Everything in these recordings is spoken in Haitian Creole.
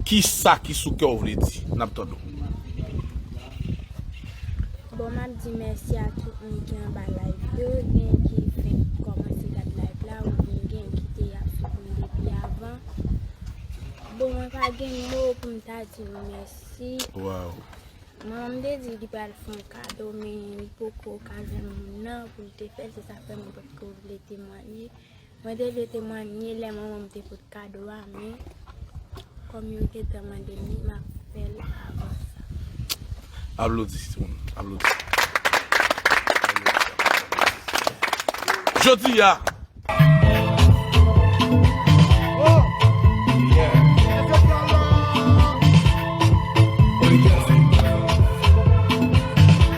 Kisa ki sou kè w vle di? N ap tande w. Bon m ap di mèsi a tout moun ki anba live yo, gen ki fenk kòmanse gad live la oubyen gen ki te ap suiv m depi avan. Bon mwen pa gen mo pou m ta di nou mèsi. Manman m te di li pral fè yon kado men li poko ka jwenn moun nan pou l te fè l se sa k fè mwen potko vle temwanye. Mwen te vle temwanye lè manman m te pot kado a men kòm yo te tan mande m li m ap fè l avan sa. Aplodi timoun aplodi. Jodi a.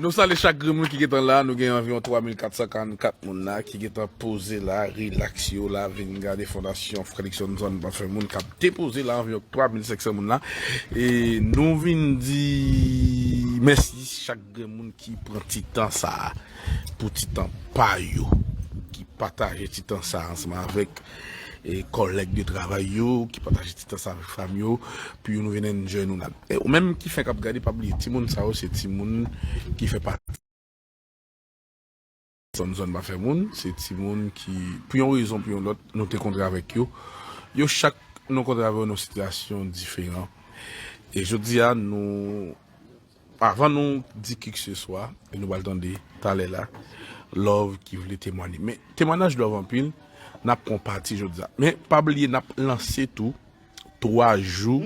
Nou sale chak grenn moun ki gentan la, nou gen anviron 3444 moun la ki gentan poze la, relax yo la, vin gade fondasyon Frèlik Sònson pa fè moun kap depoze la, anviron 3500 moun la, e nou vin di mèsi chak grenn moun ki pran ti tan sa. Pou ti tan pa yo ki pataje ti tan sa ansanm avèk kòlèg de travay yo, ki pataje ti tan sa avèk fanmi yo, pou yo nou vin enjoy nou la. E ou menm ki fenk ap gade pa bliye timoun sa yo se timoun ki fè pati zòn zòn pa fè moun, se timoun ki pou yon rezon pou yon lòt nou te kontre avèk yo. Yo chak nou kontre avè yo nan sitiyasyon diferan e jodi a nou. Avan nou di kikseswa, e nou pral tande talè la Love ki vle temwanye. Men temwanaj Love anpil, n ap pran pati jodi a. Men pa bliye n ap lanse tou 3 jou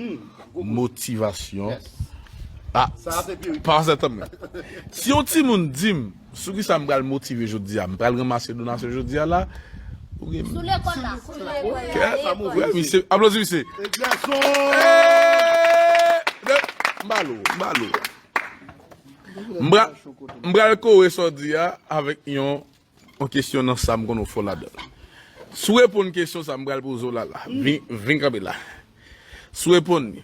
motivasyon. Sa a se pi wi. Pase tanpri. Si yon timoun di m. Sou kisa m pral motive jodi a? M pral ranmase donasyon jodi a la? Ou gen. Sou lekòl la. Sou lekòl la. Kè sa m ouvri. Wè misye. Aplodi misye. Egzèson! Eeeee! M ba l ou. M ba l ou. M pral, m pral kore sa w di a avèk yon kesyon nan sa m konnen ou fò ladan l. Si w reponn kesyon sa m pral poze w la la, vin kanpe la. Si w reponn li.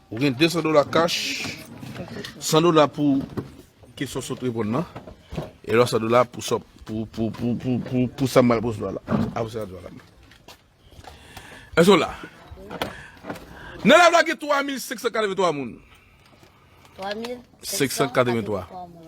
Ou gen 200 dola kach, 100 dola pou kesyon sot repon nan, e lò 100 dola pou sop, pou, pou, pou, pou, pou, pou sa mal pwoswa la. A pou sa mal pwoswa la. E so la. Nan la vla gen 3 mil 583 moun. 3 mil 583 moun.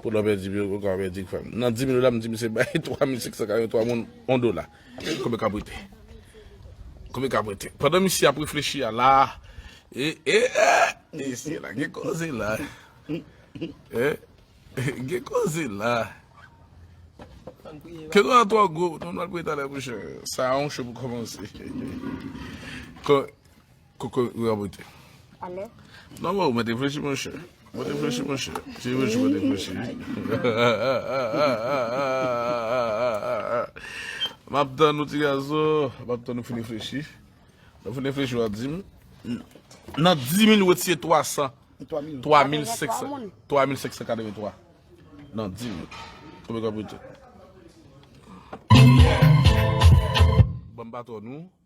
Kou lò pèdi pi ou ka pèdi frè m. Nan 10 minit la m di misye bay 3583 moun 1 dola. Konbyen kap rete? Konbyen kap rete? Pandan misye ap reflechi a la a e e e mesye la gen koze la e gen koze la Ke nou a twò gwo nou pral priye talè mouche. Sa a yon cho pou kòmanse. Koko ou rabote. Ale. Non non, mwen te flechi mwen chè. Mwen te flechi mwen chè. Si mwen chou mwen te flechi. Map tan nou ti gazo. Map tan nou fini flechi. Nou fini flechi ou a di m. Nan di mil ou etiye 300. 3.583. Nan di mil. Koko ou rabote. Bon baton nou.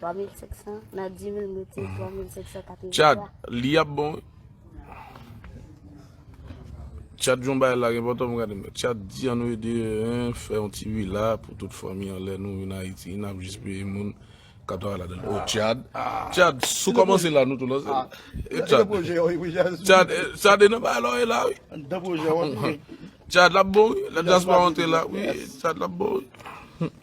3500 nan 10000 mete 3583. Chat, li ap bon wi. Chat yon bay la gen potom gade men. Chat di an nou ede en fè yon ti vila pou tout fanmi an lè nou vin Ayiti nap jis peye moun kap travay ladan l. Oh chat. Chat sou komanse la nou tou lanse l. Chat. Chat projè yo wi jazz. Chat chat e nan bagay la w ye la wi. An dan projè w ap ye. Chat lap bon wi. Lè dyaspora antre la wi chat lap bon wi.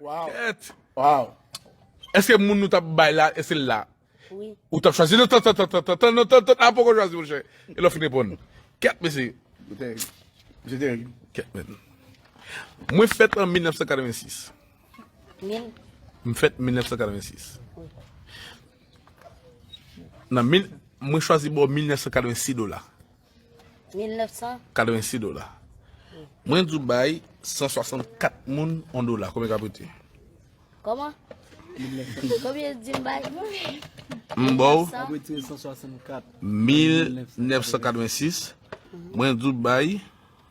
Kèt! Waw! Eske moun nou tap bay la se la ou tap chwazi? Non tantan tantan tantan non tantan a poko chwazi monchè e lè w fin reponn. Kèt mesye! Yo terib. Misye terib. Kèt menn. Mwen fèt an 1986. Mil? M fèt 1986. Nan mil, mwen chwazi ba w 1986 dola. 1986 dola. Mwen di w bay 164 moun 1 dola. Konbyen kap rete? Koman? Konbyen l di m bay? M ba w 1986. Mwen di w bay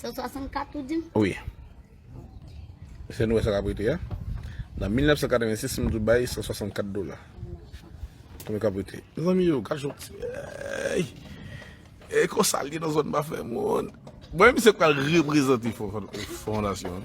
164 ou di? Wi. Eseye nou wè sa k ap rete a. Nan 1986 m di w bay 164 dola. Konbyen k ap rete? Mezanmi yo, gad yon ti bèy! E konsa l ye nan zòn Bafè moun. Bon e misye pral reprezante fondasyon an.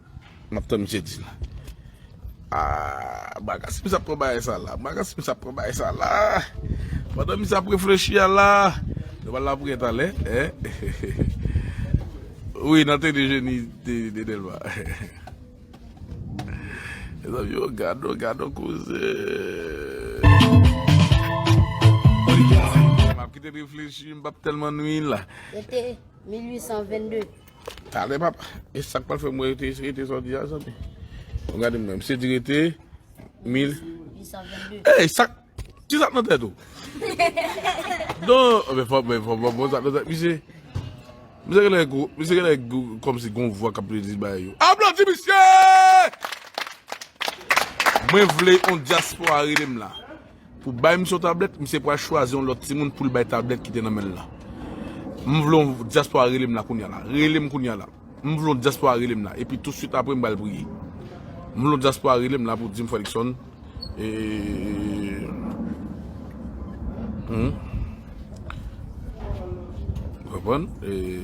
Map tann misye di nou. Aah bagass misye ap pran bagay sa la bagass misye ap pran bagay sa la pandan misye ap reflechi a la nou pral la priyè talè hehehehe wi nan teni jeni de Delma mezanmi oh gadon gadon koze map kite reflechi m pap telman nwi la. Ete 1822. Talè papa e sak pral fè mwen rete rete sa w di a zanmi bon gade mwen misye di rete 1822 ey sak ki sak nan tèt ou non men fò men fò mwen bon sak nan tèt misye misye genlè gou misye genlè gou kòmsi gon vwa kap li bay yo aplodi misye mwen vle yon dyaspora rele m la. Pou bay misye yon tablèt, misye pral chwazi yon lòt timoun poul bay tablèt ki te nan menl la. M vle yon diaspora relem la kounya la. Relem kounya la. M vle yon diaspora relem la. Epi tou swit apre m pral priye. M vle yon diaspora relem la pou dim frè Luckson eee Ou konprann? Eee.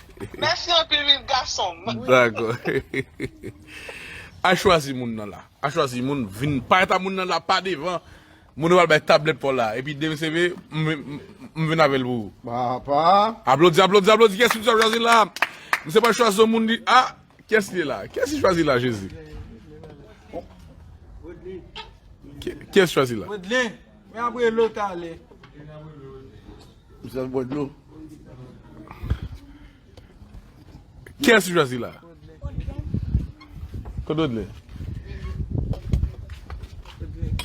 Mèsi anpil Wid gason m. Dako. Al chwazi moun nan la. Al chwazi moun vin pa eta moun nan la pa devan. Moun yo al bay tablèt paw la epi dem CV m vin avèl pou ou. Papa. Aplodi aplodi aplodi kiyès misye ap chwazi la. Misye pral chwazi yon moun li a kiyès li la. Kiyès li chwazi la jezi. Kiyès chwazi la. Woodley. Mwen ap rele w talè. Kiyès ou chwazi la? Kododle.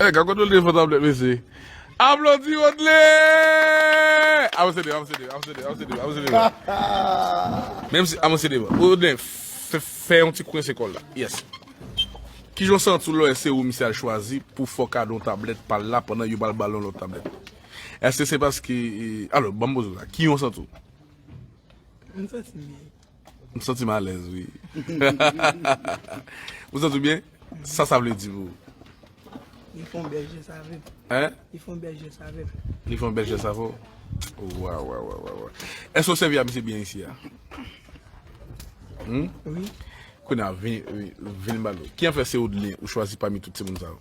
Eh, ka Kododle fò tablèt mesye. Aplodi Kododle! Avanse devan, avanse devan, avanse devan, avanse devan, avanse devan. Menm si avanse devan. Kododle, fè fè yon ti kwense kòl la. Yes. Kijan w santi w lè se ou misye al chwazi pou fò kadon tablèt pal la pandan yo pral bal yon lòt tablèt? Eske se paske Alo banm poze sa Ki yon sant ou? M santi m byen M santi m alèz wi Ou santi w byen? Sa sa vle di pou ou? Li fon bèl jès avè m Hein? Li fon bèl jès avè m Li fon bèl jès avè w? Wawawawawaww Eske ou sèvi a misye byen isi a? Hum? Wi Kounye a vin vin ba nou Ki an fè se Odeline ou chwazi pami tout timoun sa yo?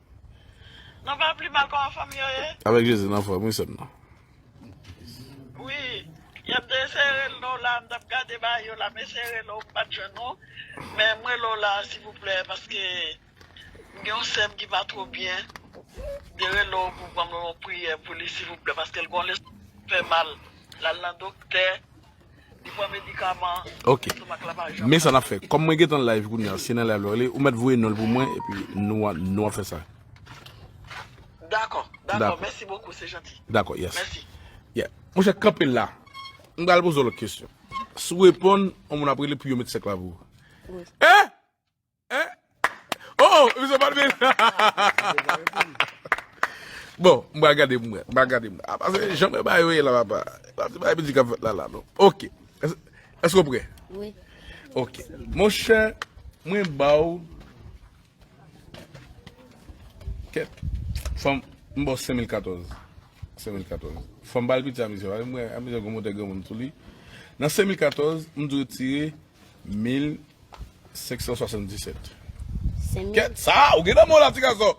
Nou pa pli mal koman fanm yo ye. Avek jezi nan fom wi sem nan. Wi yap desere lo la mtap gade ba yo la mesere lo mpat jwenn ou men mrele w la sivoupler paske mgen yon sem ki pa two byen mte rele w pou banm yon priye pou li sivoupler paske l gon le fè mal lal nan dokter Li pran medikaman. Ok. Estomak la pa janm. Men sa nap fè. Kòm mwen gentan live kounya, se nan live la li, ou mèt voye nonl pou mwen epi nou a nou a fè sa. Dakò, dakò, mèsi bokou, se janti. Dakò, yes. Mèsi. Yeah. Monchè kanpe la. M pral poze w lòt kesyon. Si w reponn, yon moun ap rele pou yo met sèk la pou ou. Wi. Eh! Hein? Oh, m se pat vin. Mwen te ka reponn. Bon, m pral gade mwen. M pral gade mwen. A pase jan mwen bay yo ye la papa. E pa ti bagay piti kap fèt la la non. Ok. Èske ou prè? Oui. Ok. Mon chè, mwen ba ou kèt fanm m ba ou 5014. 5014. Fanm bal piti a misye. Mwen a misye gon montè granmoun sou li. Nan 5014, m di w retire 1577 Kèt sa a ou gen nan men w la ti gason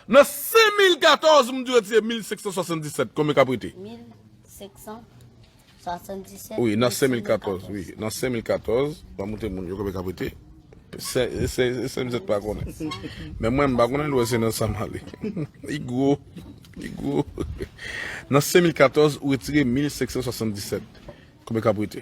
Nan 5014 m di w retire 1577 konbyen k ap rete? 1577 Wi nan 5014 Wi nan 5014 Ba m montre moun yo konbyen k ap rete Sem zèt pa konnen Men mwen m pa konnen dwe se nan sa m ale Li gwo Li gwo Nan 5014 ou retire 1577 konbyen k ap rete?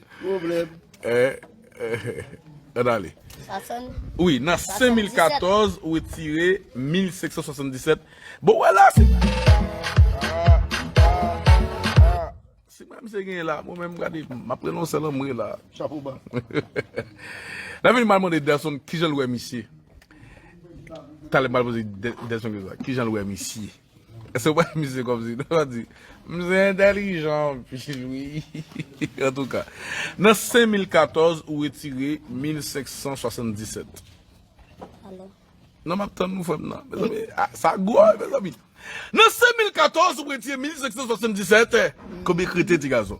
Pwoblèm. An ale. Sa sonn. Wi, nan 5014 ou etire 1577. Bon wè la se. Si mwen mse gen la, mwen mwen gade, m ap prenon selan mwen la. Chapo ba. Nan vin mal mwen de Delson, kijan l wè misye? Talè mal mwen de Delson, kijan l wè misye? Eske w pa wè misye kòmsi non wap di misye entèlijan anpil wi antouka nan 5014 ou retire 1577 Alo. Nan map tann nou frè m nan mezanmi sa gou wi mezanmi nan 5014 ou retire 1577 konbyen krete ti gason.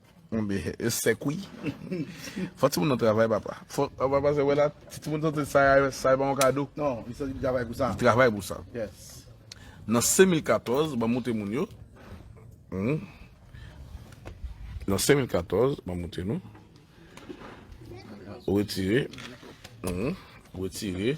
Konbe yo sèk wi. Fò timoun nan travay papa. Fò papa se wè la ti timoun santi sa sa e pa yon kado. Non, li santi li travay pou sa. Li travay pou sa. Yes. Nan 5014 banm moute moun yo. Hum. Nan 5014 banm moute nou. Retire. Hum. Retire.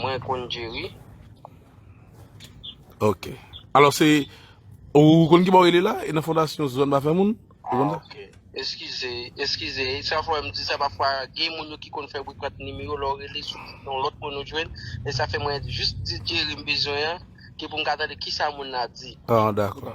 Mwen konn Jerry. Ok. Alò se, ou konn ki bò rele la? E nan fondasyon zòn pa fè moun? Ok. Eskize, eskize. E sa fò m di sa pa fwa gen moun yo ki konn fè bri prank nimewo lò rele sou yon lòt moun ou jwenn. E sa fè mwen jis di Jerry m bezwen an, ki pou m ka tande ki sa moun nan di. Ah, dakò.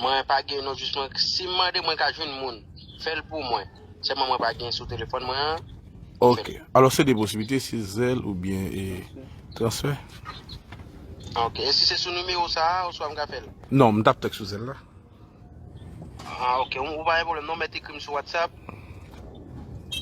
Mwen pa gen non jis mwen si m mande mwen ka jwenn moun fèl pou mwen sèlman mwen pa gen sou telefòn mwen an. Ok alò se 2 posiblite se Zelle oubyen transfè. Ok e si se sou nimewo sa oswa m ka fèl. Non m tap fèl sou Zelle la. Ah ok, ou pa gen problem non met ekrim sou whatsapp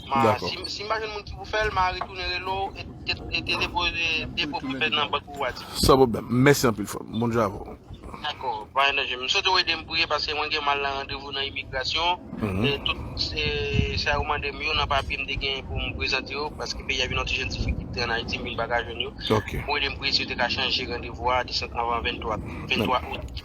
Ma, si mpa jwenn moun ki pou fèl, ma retounen relo e te depoze depo pou fèl nan bank ou a di. San pwoblèm, mèsi anpil frè m, Bondye avè w. Dakò, pa gen danje. M swete w ede m priye paske mwen gen mal nan randevou nan imigrasyon e tout sa yo mande m yo nan papye m te genyen pou m prezante yo paske peyi a vin nan ti jan difikilte an Ayiti m vin pa ka jwenn yo. Pou w ede m priye si yo te ka chanje randevou a desann anvan 23 out.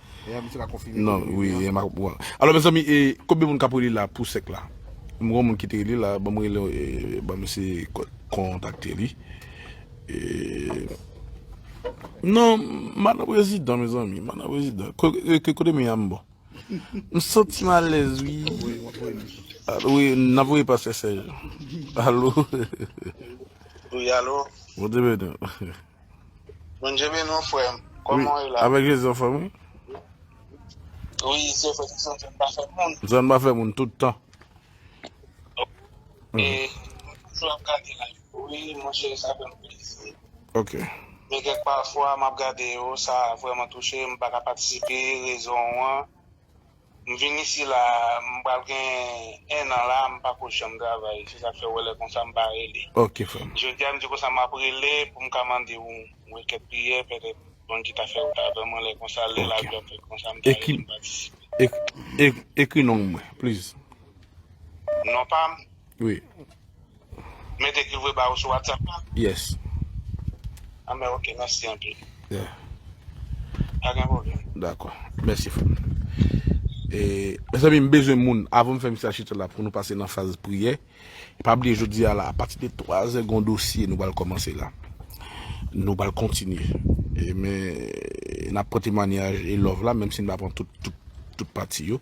Non wi e map pran. Alò mezanmi e konbyen moun kap rele la pou sèk la? M gon moun ki te rele la banm rele e banm ese kontakte li e non madan prezidan mezanmi madan prezidan kote m ye a m bon m santi m alèz wi wi nap voye pa sè sèj alo wi alo bon dimanche Bondye beni w frè m. Kòman w ye la? Avèk Jezi anfòm wi. Wi, si yo fè tout sa, zòn pa fè moun. Zòn pa fè moun tout tan. Ok. E mwen toujou ap gade live yo wi monchè sa fè m plezi. Ok. Men kèk pafwa m ap gade yo sa vrèman touche m pa ka patisipe rezon an. M vin isi la m pral gen 1 an la m pako janm travay se sak fè ou wè lè konsa m pa rele jodia m di konsa map rele poum ka mande ou we kèk priyè pètèt Bondye ta fè ou ta avè mwen lè konsa lè lavi ap fèt konsa m ta rele m patisipe. Ekri non mwen please. Non pam Wi. Mete ki vwe ba ou sou WhatsApp la? Yes. Ah ben ok, mèsi anpil. Yeah. Pa gen pwoblèm. Dakò. Mèsi frè m. E, mezanmi m bezwen moun avan m fè mesaj chita la pou nou pase nan faz priyè. Pa bliye jodi a la, apati de 3 zè gon dosye nou pral kòmanse la. Nou pral kontinye. E men, n ap pran temwanyaj e love la menm si n pa pran tout, tout, tout pati yo.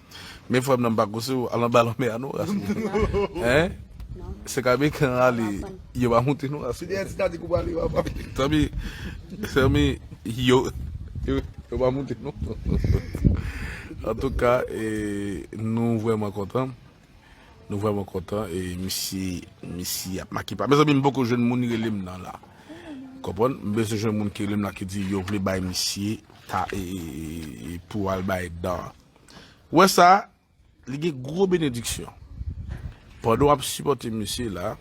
Men frèm nan m pa kouse w al anba lanmè a non ras moun hein se ka mechan an ale yo pa moute non ras moun tanpri tanpri yo yo pa moute non antouka nou vrèman kontan nou vrèman kontan e misye misye ap make pa mezanmi m poko jwenn moun rele m nan la konprann m bezwen jwenn moun ki rele m nan ki di yo vle bay misye ta pou al bay dan. Wè sa, li gen gwo benediksyon. Pandan w ap sipòte misye la,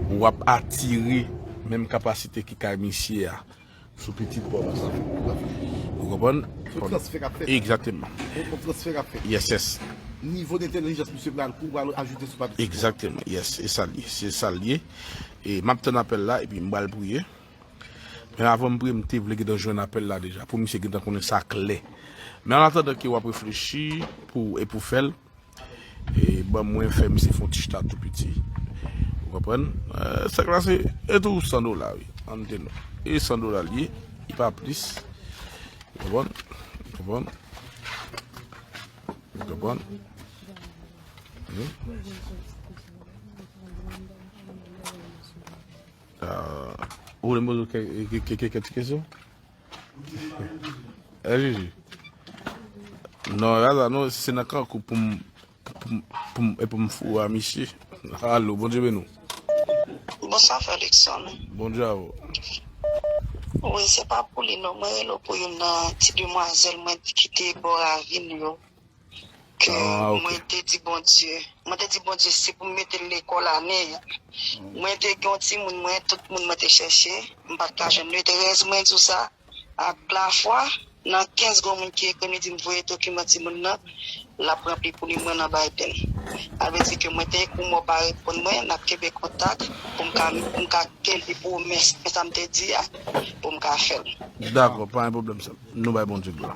w ap atire menm kapasite ki kay misye a sou pitit pa w la. Ou konprann? Yon transfè k ap fèt. Egzateman. Yon transfè k ap fèt. Yes, yes. Nivo dentelijans misye pral kou pral ajoute sou pa pitit pa w. Egzateman. Yes, e sa l ye. Se sa l ye. E m ap tann apèl la epi m pral priye. Men avanm priye mte vle gentan jwenn apèl la deja pou misye gentan konnen sa klè men an atandan ke wap reflechi pou e pou fèl e ban mwen fè misye fon ti chita tou piti ou konprann sèk la se e tou 100 dola wi an mte nou e 100 dola liye e pa plis ou konprann ou konprann ou konprann hmm Ou vle m poze w kèk ti kesyon? Eh Jiji. Non, raza non, si se nan kankou pou m pou m e pou m fou a misye. Alo, bon Dieu benou. Bonsoir frère Luckson. Bon Dieu à vous. Oui, c'est pas pour lui non, mwen relo pou yon nan ti demoiselle mwen ki te bo ravine yo. E mwen te di Bondye, mwen te di Bondye si pou m mete l lekòl ane a. Mwen te gen yon timoun mwen, tout moun mwen te chèche, m pa t ka jwenn. Li te rèz mwen di w sa ak lafwa. Nan 15 gwo moun ki ekri m, li di m voye dokiman timoun nan, l ap ranpli pou li mwen nan Biden. Sa vle di ke mwen te ekri w men w pa reponn mwen, n ap kenbe kontak pou m ka, pou m ka kenbe pwomès mwen sa m te di a, pou m ka fè l. Dakò, pa gen pwoblèm sè m. Nou bay Bondye glwa.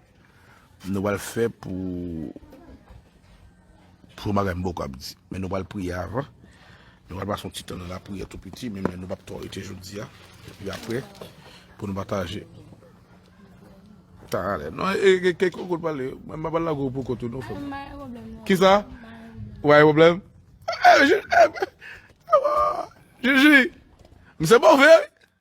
Nou pral fè pou Pou bagay m poko ap di Men nou pral priye avan Nou pral pase yon ti tan nan lapriyè tou piti Men nou pap twò rete jodi a Epi apre Pou nou pataje Tan an ale non E gen kèk kokout pale Mwen pa pral lague w pou kont ou non frè m Mwen gen pwoblèm non Kisa Ou pa gen pwoblèm Eee Jiji Eee Jiji M se move wi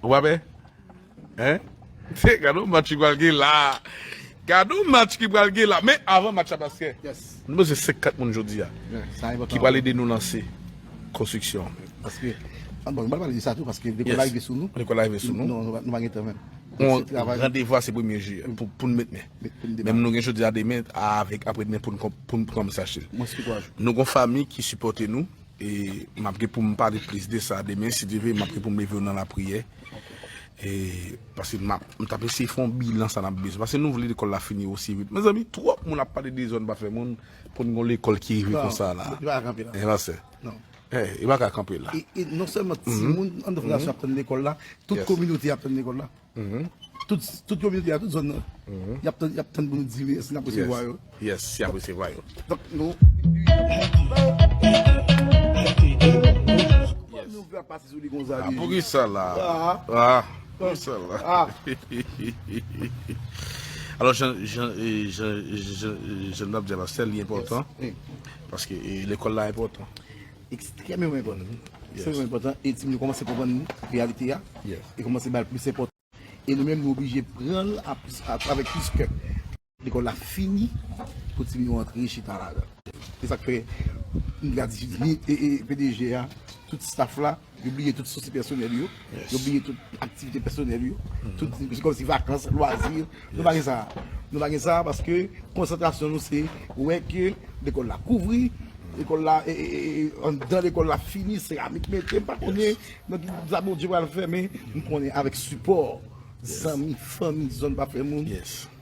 Ou pa pe? Gade yon match ki pral gen la Gade yon match ki pral gen la Men avan match la paske Nou bezwen 5, 4 moun jodi a Ki pral ede nou lanse Konstriksyon an Bon nou pa pale de sa tou paske Lekòl la rive sou nou Lekòl la rive sou nou Nou pa gen tan menm Randevou a se premye je Pou nou met men Menm nou gen jodi a demen Aprè demen pou nou kòmanse achte Nou gen yon fanmi ki sipòte nou E m ap gen pou m pale plis de sa demen si Dye ve, m ap gen pou m leve yo nan lapriyè. E pase m ap, m t ap eseye fè yon bilan sa n ap bezwen. Pase nou vle lekòl la fini osi vit. Mezanmi twòp moun ap pale de zòn pa fè moun pou n gen yon lekòl ki rive konsa la. Non, li pa ka kanpe la. Hein pastè? Non. Hein, li pa ka kanpe la. E non sèlman timoun anndan fondasyon ap tann lekòl la, tout kominote a ap tann lekòl la. Tout kominote a, tout zòn nan, y ap tann pou nou di yo si n ap resevwa yo. Yes, si y ap resevwa yo. Donk nou. Poukisa nou vle ap pase sou li konsa li? Poukisa la? Poukisa la? Alò, jan n ap di a la, sè li enpòtan. Paske lekòl la enpòtan. ekstrèmeman enpòtan wi, ekstrèmeman enpòtan e timoun yo kòmanse konprann reyalite ya e kòmanse bal plis enpòtans e nou menm nou oblije pranl avèk plis kè lekòl la fini pou timoun yo antre chita ladan se sak fè ni pdg ya tout staff la yo bliye tout sousi pèsonèl yo. Yo bliye tout aktivite pèsonèl yo, tout se kòmsi vakans, lwazi, nou pa gen sa. Nou pa gen sa paske konsantrasyon nou se wè ke lekòl la kouvri, lekòl la e anndan lekòl la fini, seramik mete, m pa konnen nan ki sa Bondye pral fè men m konnen avèk sipò zanmi, fanmi, zòn pa fè moun.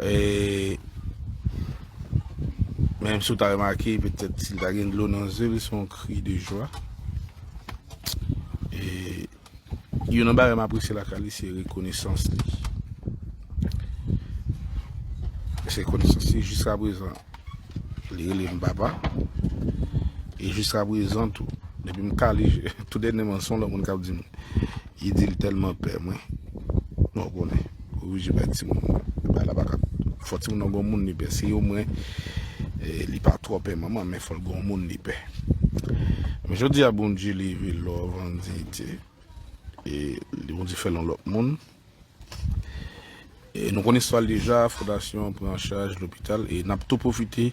E, menm sou ta remake, petèt si l ta gen dlo nan zye l, se yon kri de jwa. E, yon nan bagay m apresye la kay li se rekonesans li. Se rekonesans li jiska prezan. Li rele m papa. E jiska prezan tou, depi m kale je, tou dènèman son lòt moun k ap di m, li di l tèlman pè mwen. Bon, ou konnen, ou oblije pè timoun ou. Bagay la pa ka, fò timoun nan gon moun li pè. Si o mwen li pa twò pè manman, men fò l gon moun li pè. Men jodi a Bondye leve love an diyite. E Bondye fè l yon lòt moun. E nou konn istwa l deja, fondasyon an pran an chaj lopital e n ap tou pwofite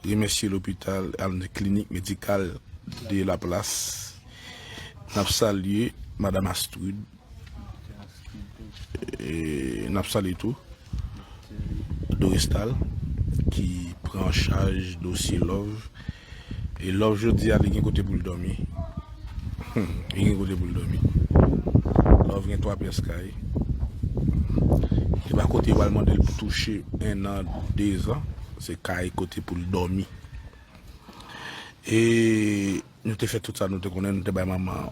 remèsye lopital and klinik medikal de Laplas. N ap salye madam Astride, n ap salye tou Dorestal ki pran an chaj dosye love. E love jodia li gen kote poul domi humm li gen kote poul domi love gen 3 pyes kay epa kote yo pral mandel pou touche 1 an 2 zan se kay kote poul domi e nou te fè tout sa nou te konnen nou te bay manman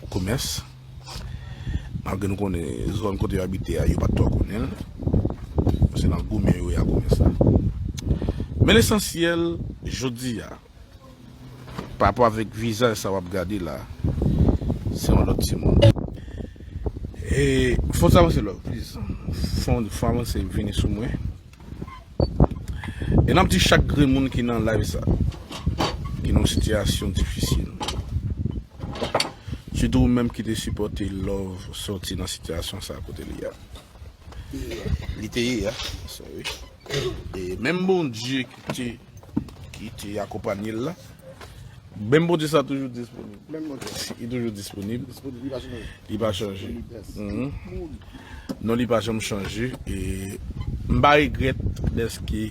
komes. Malgre nou konnen zòn kote yo abite a, yo pa t twò konnen l. Se nan goumen yo ya konnen sa. Men lesansyèl, jodi a, parapò avèk vizaj sa w ap gade la, se yon lòt timoun. E, fòs avanse love please. Fòs avanse vini sou mwen. E nap di chak grenn moun ki nan live sa ki nan sitiyasyon difisil sitou ou menm ki te sipòte love sòti nan sitiyasyon sa kote li a li te ye a menm Bondye ki te ki te akonpanye l la. Menm Bondye sa toujou disponib. Menm Bondye sa. Li toujou disponib. Disponib, li pa chanje. Li pa chanje. Non li pa janm chanje. E m pa regret deske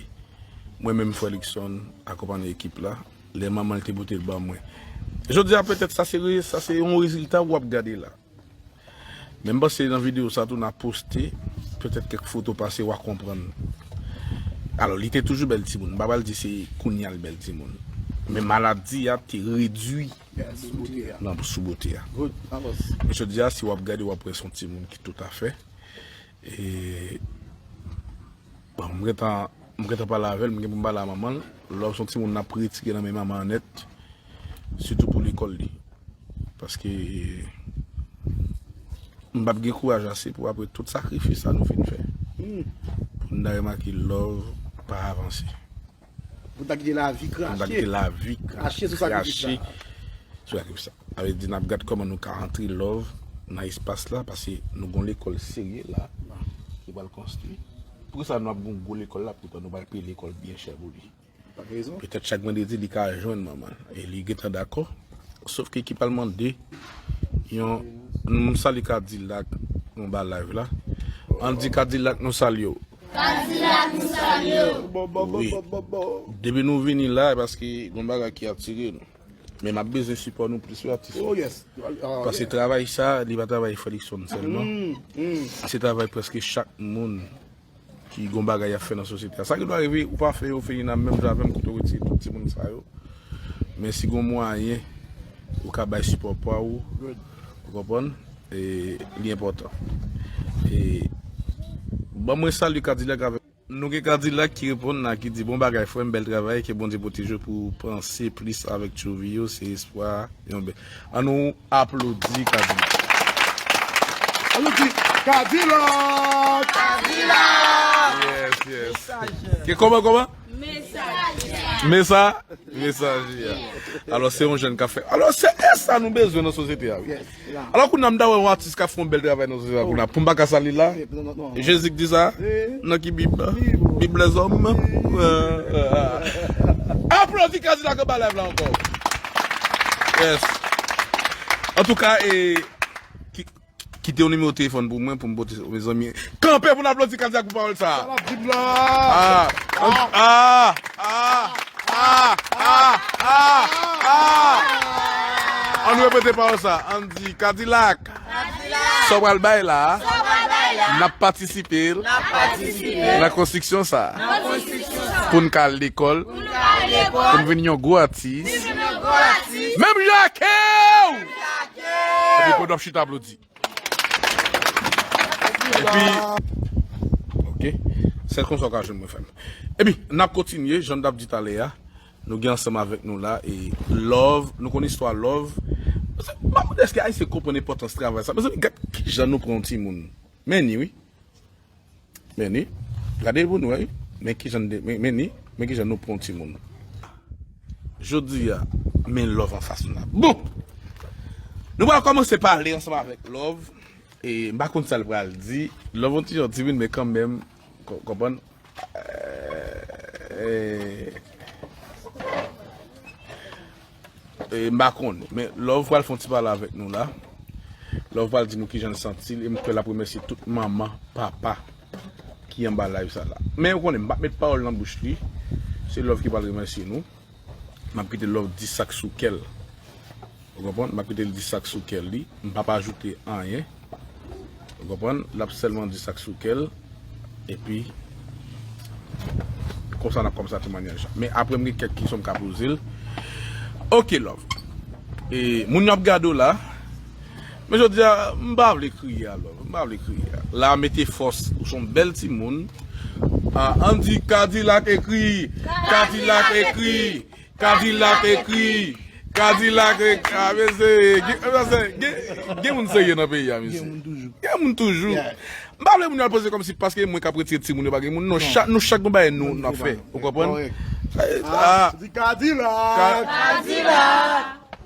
mwen menm Frè Luckson akonpanye ekip la. Lè manman l te pote l ban mwen. Jodi a petèt sa se yon rezilta ou ap gade la. Men m panse nan video sa tou na poste petèt kèk foto pase wa konprann. Alò li te toujou bèl timoun, m pa pral di se kounya l bèl timoun. Men maladi a te redui nan sou bote a. Men jodi a si wap gade wap wè son timoun ki toutafè e bon m gentan pale avèl, m gen pou m pale a manman l. Lè w son timoun nap retire nan men manman an nèt. sitou pou lekòl li. Paske m pap gen kouraj ase pou apre tout sakrifis sa nou fin fè pou n ta remake love pa avanse. Pou n ta kite lavi krache. Pou n ta kite lavi krache sou sakrifis sa. Sou sakrifis sa. Sa vle di n ap gad kòman nou ka antre love nan espas la paske nou gon lekòl serye la ki pral konstwi. Pou kisa nou ap gon gwo lekòl la poutan nou pa peye lekòl byen chè pou li. Petèt chak vandredi li ka jwenn manman l e li gentan dakò. Sof ke ekip al mande yon N sali kadilak nou ba live la. An di kadilak nou salye w. Kadilak nou salye w. Wi. Depi nou vini la e paske gon bagay ki atire nou. Men m ap bezwen sipò nou plis wi atis yo. Pase travay sa li pa travay Fredrickson sèlman. Se travay prèske chak moun. Ki gon bagay yap fè nan sosyete a. Sa ki dwa rive ou pa fè yo Felina menm jan avèm kote ou retire tout ti moun sa yo men si gon mwayen ou ka bay sipò paw ou konprann e li enpòtan e banm mwen salye kadilak avèk. Nou gen kadilak ki reponn la ki di bon bagay frèm bèl travay ke bondye pwotejew pou panse plis avèk tchouvy yo se espwa yon bèl an nou. Aplodi kadilak. Aplodi kadilak. Kadilak. Yes yes. Ke koman koman. Mesaje. Mesa. Mesaje ya. Alo se yon jen ka fe. Alo se e sa nou bezwen nan sosyete ya. Alo kou nan mda we yon atis ka fon bel travay nan sosyete ya. Pou mba ka sali la. Jezi k di sa nan ki bib bib lèzòm aplodi kadilak anba live la ankò yes antouka kite yon nimewo telefòn pou mwen poum pote mezanmi kanpe poun aplodi kadilak pou pawòl sa annou repete pawòl sa ann di kadilak Sa w pral bay la a, n ap patisipe l nan konstriksyon sa a. Pou n ka al lekòl, pou n vin yon gwo atis, menm jan ake w! Epi pandan w ap chita aplodi. Epi, ok, sèl konsa w ka jwenn mwen fè m. Epi, n ap kontinye, jan n t ap di talè a. Nou gen ansanm avèk nou la e love nou konn istwa love mezanmi map mande eske ayisyen konprann enpòtans travay sa mezanmi gad kijan nou pran yon timoun men ni wi men ni gade pou nou wè wi men kijan men ni men kijan nou pran yon timoun jodi a men love anfas nou la bon nou pral kòmanse pale ansanm avèk love e m pa konn sal pral di love yon ti jan timid men kanmèm. Konprann eehh m pa konn men love pral fon ti pale avèk nou la love pral di nou kijan l santi l e m kwè lap remèsye tout manman papa ki anba live sa la men ou konnen m pap met pawòl nan bouch li se love ki pral remèsye nou. Map kite love di sak sou kèl ou konprann map kitel di sak sou kèl li m pap ajoute anyen ou konprann lap sèlman di sak sou kèl epi konsa nap kòmanse temwanyaj la men aprè m gen kèk kesyon m ka pozel ok love e moun yo ap gade w la. Men jodia m pa vle kriye a love m pa vle kriye a la mete fòs ou son bèl timoun ah ann di kadilak ekri kadilak ekri kadilak ekri kadilak ekri ah mesye gen moun serye nan peyi a mesye gen moun toujou m pa vle moun yo al poze kòmsi paske mwen kap retire timoun yo pa gen moun non nou chak gon bagay nou ap fè ou konprann ah kadilak kadilak.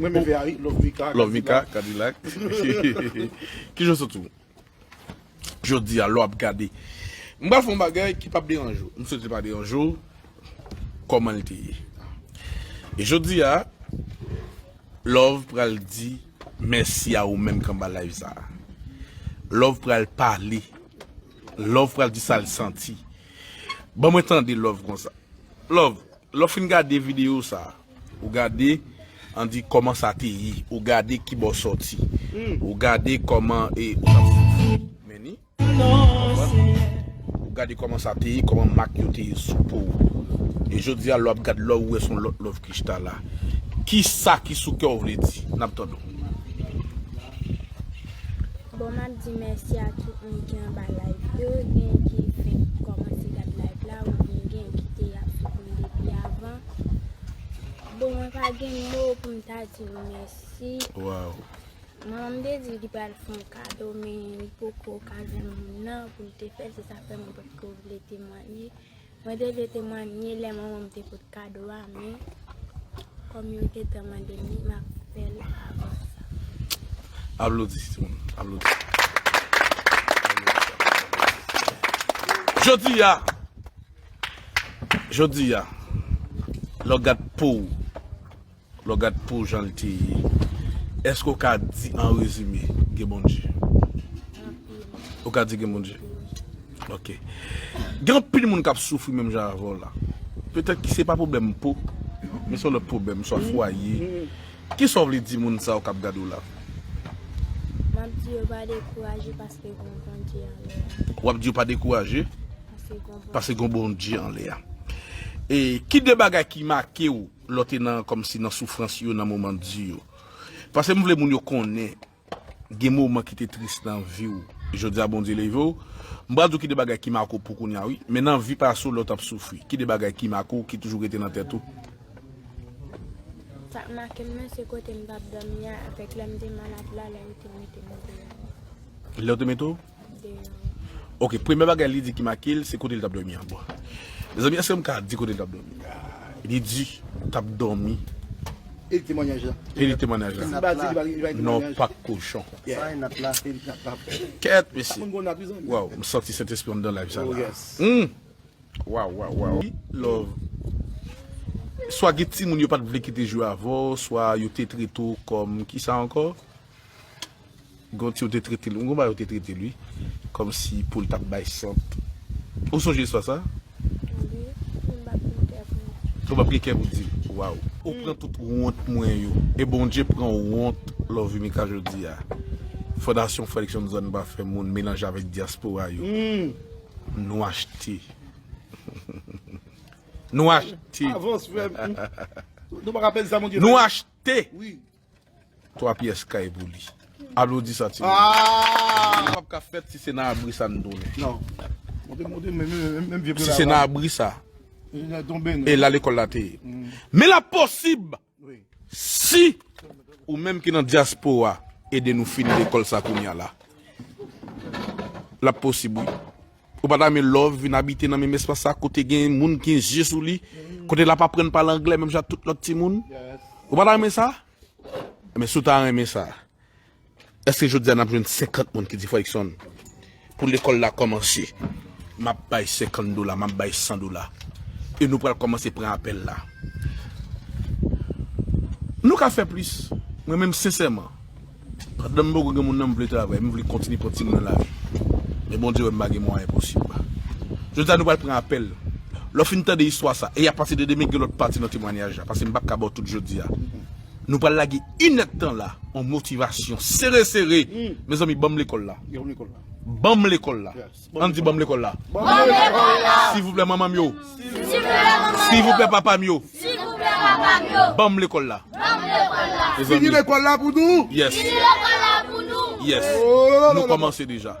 M renmen fè a wi love mika Love mika kadilak Kijan w santi w Jodi a lè w ap gade M pral fè yon bagay ki pap deranje w M swete li pa deranje w Kòman l te ye E jodi a Love pral di Mèsi a ou menm k anba live sa Love pral pale Love pral di sa l santi Ban mwen tande Love konsa Love. Lè w fin gade video sa ou gade an di kòman sa te ye ou gade ki bò sòti ou gade kòman e ou tap soufri men ni konprann ou gade kòman sa te ye kòman mak yo te ye sou po w e jodi a lè w ap gad love ou wè son lòt love Christa la kisa ki sou kè w vle di nap tande w. Bon map di mèsi a tout moun ki anba live yo gen ki fenk kòmanse gad live la ou byen gen ki te ap swiv mwen depi avan bon mwen pa gen mo poum ta di nou mèsi waw manman m te di li pral fè yon kado men li poko ka jwenn moun nan poul te fèl se sa fè mwen potko vle temwanye Mwen te vle temwanye lè manman m te pot kado a men kòm yo gentan mande m li m ap fè l avan sa. Aplodi timoun aplodi. Jodi a Jodi a lè w gad po w. Lè w gad po jan l te ye, èske w ka di an rezime, gen Bondye? Anpil. Ou ka di gen Bondye? Anpil. Ok. Gen anpil moun k ap soufri menm jan avè w la. Petèt ki se pa pwoblèm po, men se yon lòt pwoblèm, swa fwaye. Ki sa w vle di moun sa yo k ap gade w la? M ap di yo pa dekouraje paske gen yon Bondye anlè a. W ap di yo pa dekouraje? Paske gen yon Bondye. Paske gen yon Bondye anlè a. E ki de bagay ki make w Lò te nan kòmsi nan soufrans yo nan moman di yo. Pase m vle moun yo konnen gen moman ki te tris nan vi w jodi a Bondye leve w m pral di w ki de bagay ki make w pou kounya wi men nan vi pase w lè w tap soufri ki de bagay ki make w ki toujou rete nan tèt ou. Sak make m nan se kote m tap dòmi a avèk lè m te malad la lè yo te mete m deyò. Lè yo te mete w? Ok premye bagay li di ki make l se kote li tap domi an bon Mezanmi eske m ka di kote li tap domi Li di tap domi E li temwanyaj la E li temwanyaj la Si m pa di li pa gen temwanyaj Non pak kochon Bay nat la e li tap pap Kèt mesye Moun gon nat wi zanmi Waw m santi sentespri anndan live sa la Humm Waw waw waw Li love Swa gen timoun yo pat vle ki te jwe avèw swa yo te trete w kòm kisa ankò Gon ti yo te trete l, gon bagay yo te trete l wi, kòm si pou l t ap bay sant. Ou sonje istwa sa a? Wi, men m pa p gen kè pou m di l. Ou pa p gen kè pou w di l? Waww! Ou pran tout wont mwen yo. E Bondye pran wont Lovimika jodi a. Fondasyon Fredrickson Zòn Pa Fè Moun melanje avèk dyaspora yo. Nou achte. Nou achte. Avans frè m. Nou pa ka pèdi sa Bondye fè. Nou achte! 3 pyès kay pou li. Aplodi sa ti moun. Pap ka fèt si se nan abri sa nou tounen. Si se nan abri sa e la lekòl la te ye. Men l ap posib si ou menm ki nan dyaspora ede nou fini lekòl sa kounya la. L ap posib wi. Ou pa ta men Love vin abite nan menm espas sa kote gen moun ki gen zye sou li, kote l ap aprann pale anglè menm jan ak tout lòt timoun? Ou pa ta renmen sa? Enben, si w ta renmen sa, èske jodi a n ap jwenn senkant moun ki di, Fredson, pou lekòl la kòmanse, m ap bay senkant dola, m ap bay san dola, e nou pral kòmanse pran apèl la? Nou ka fè plis. Mwen menm, sensèman, Pandan m poko gen moun nan m vle travay, m vle kontinye pran timoun nan lavi. Men Bondye wè m pa gen mwayen posib. Jodi a nou pral pran apèl. Lè w fin tande istwa sa, e apati de demen gen lòt pati nan temwanyaj la, pase m pa t ka ba w tout jodi a. Nou pral lage inèd tan la. On motivasyon sere sere! Mezanmi banm lekòl la! Banm lekòl la! An di banm lekòl la. Banm lekòl la. Sivouplè manman m yo. Sivouplè manman m yo. Sivouplè papa m yo. Sivouplè papa m yo. Banm lekòl la. Banm lekòl la. Fini lekòl la pou nou. Yes. Fini lekòl la pou nou. Yes. Nou kòmanse deja.